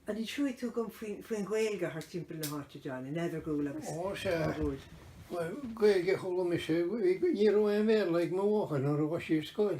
An inseoidh tú dom faoin Ghaeilge thart timpeall na háite, John, in Eadargúil agus Ó, sea. Eadargúil? Bhuel, Gaeilge a chuala mise, ní raibh aon Bhéarla ag mo mháthair nuair a ghabh sí ar scoil.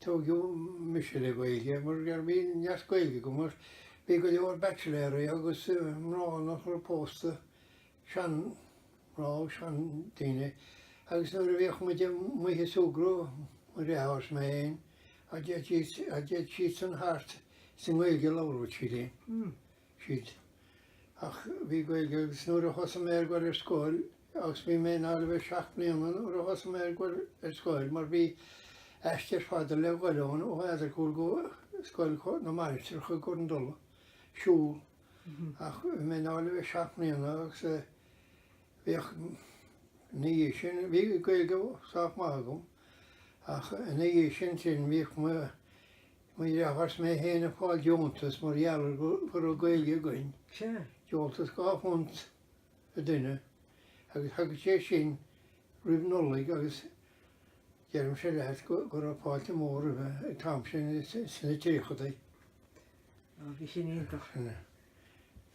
Tógadh mise le Gaeilge mar gur bhí neart Gaeilge agam mar bhí go leor baitsiléaraí agus mná nach raibh pósta, sean mná agus sean daoine agus nuair a bhíodh muid amuigh ag súgradh, mo dhreatháir is mé fhéin, dá dtéadh siadsan thart is i nGaeilge a labhraíodh siad linn, siad. Ach bhí Gaeilge agus nuair a thosaigh mé ag goil ar scoil, agus bhí mé i ndáil le bheith seacht mbliana nuair a thosaigh mé ag goil ar scoil mar bhí aistear fada le dhul ann ó Eadargúil go Scoil na Mainistreach i gCorn dul ag siúl ach bhí mé i ndáil le bheith seacht mbliana agus bhíodh ina dhiaidh sin, bhí Gaeilge sách maith agam ach ina dhiaidh sin sin bhíodh mo mo dhreatháir is mé féin ag fáil deontas mar gheall go raibh Gaeilge againn, deontas dhá phunt. an duine agus thagadh sé sin roimh Nollaig agus deirimse leat go raibh fáilte mhór roimhe an t-am sin sna tríochadaí. Ó bhí sin iontach.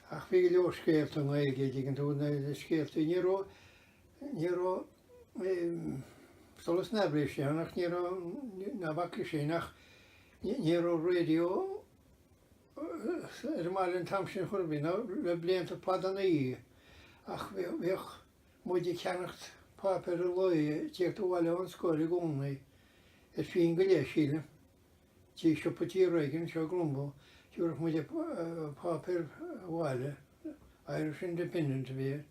Ach bhí go leor scéalta i nGaeilge an dtuigeann tú na scéaltaí. Ní raibh ní raibh solas na haibhléise ann ach ní raibh ná bac leis sin ach ní raibh raidió. ar an mbaile an t-am sin ar chor ar bith, nó le blianta fada ina dhiaidh, ach bhíodh muid ag ceannacht páipéar an lae ag tíocht abhaile ón scoil i gcónaí, ar phinn go leith, sílim, tigh siopa tí Reagan anseo i gClonbur, thiúrfadh muid an páipéar abhaile, Irish Independent a bhí air,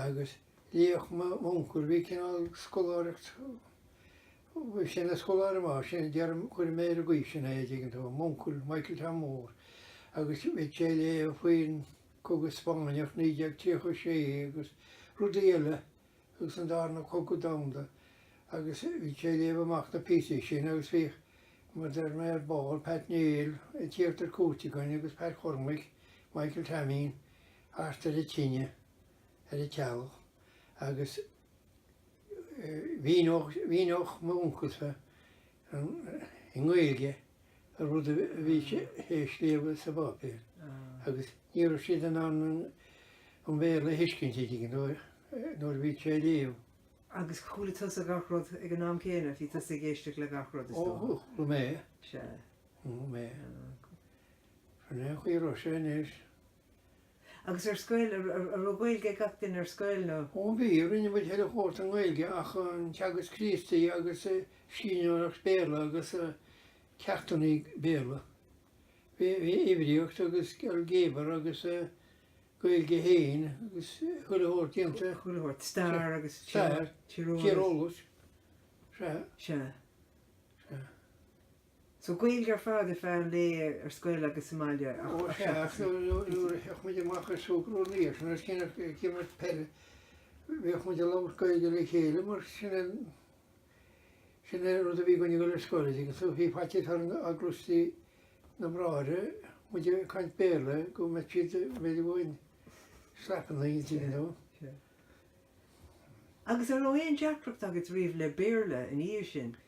agus léadh m'uncail, bhí cineál scoláireacht Bhí sé ina scoláire maith sin a deirim, cuirfidh mé ar an gcaoi sin é, an dtuigeann tú, m'uncail, Michael Tom Mór, agus bhí sé ag léamh faoin gcogadh Spáinneach, 1936, agus rudaí eile, agus an darna cogadh domhanda, agus bhí sé ag léamh amach na píosaí sin, agus bhíodh, mar a deir mé ar ball, Pat Néill, ag tíocht ar cuairt againn, agus Pat Chormaic, Michael Taimín, thart ar an tine, ar an teallach, agus. Mhíníodh m'uncailse i nGaeilge an rud a bhí sé a léamh sa bpáipéar agus ní raibh siad in ann an Bhéarla a thuiscint an dtuigeann tú nuair a bhí sé ag léamh. Agus chuala tusa gach rud ag an am céanna, bhí tusa ag éisteacht le gach rud is dócha? Ó, chuala mé é. Sea. Chuala mé é. Sin é an chaoi a raibh sé anois. Agus ar scoil, an raibh Gaeilge ag gach duine ar scoil nó? Ó bhí, rinne muid chuile shórt i nGaeilge ach an teagasc Críostaí agus síniúlacht Béarla agus ceachtanna Béarla. Bhí uimhríocht agus ailgéabar agus Gaeilge féin agus chuile shórt déanta. Chuile shórt, stair agus tíreolas. Sea. Sea. So Gaeilge ar fad ar feadh an lae ar scoil agus sa mbaile ach Ó sea, ach nuair a théadh muid amach ag súgradh na sé nós cinn ag imirt peile bhíodh muid ag labhairt Gaeilge le chéile mar sin é sin an rud a bhí againn ag dul ar scoil agus so bhí faitíos orainn dá gcloisfeadh na bráithre muid ag caint Béarla go mbeadh siad b'fhéidir go bhfaighinn slapanna ag intinn you know. Sea. Agus an raibh aon deacracht agat riamh le Béarla ina dhiaidh sin?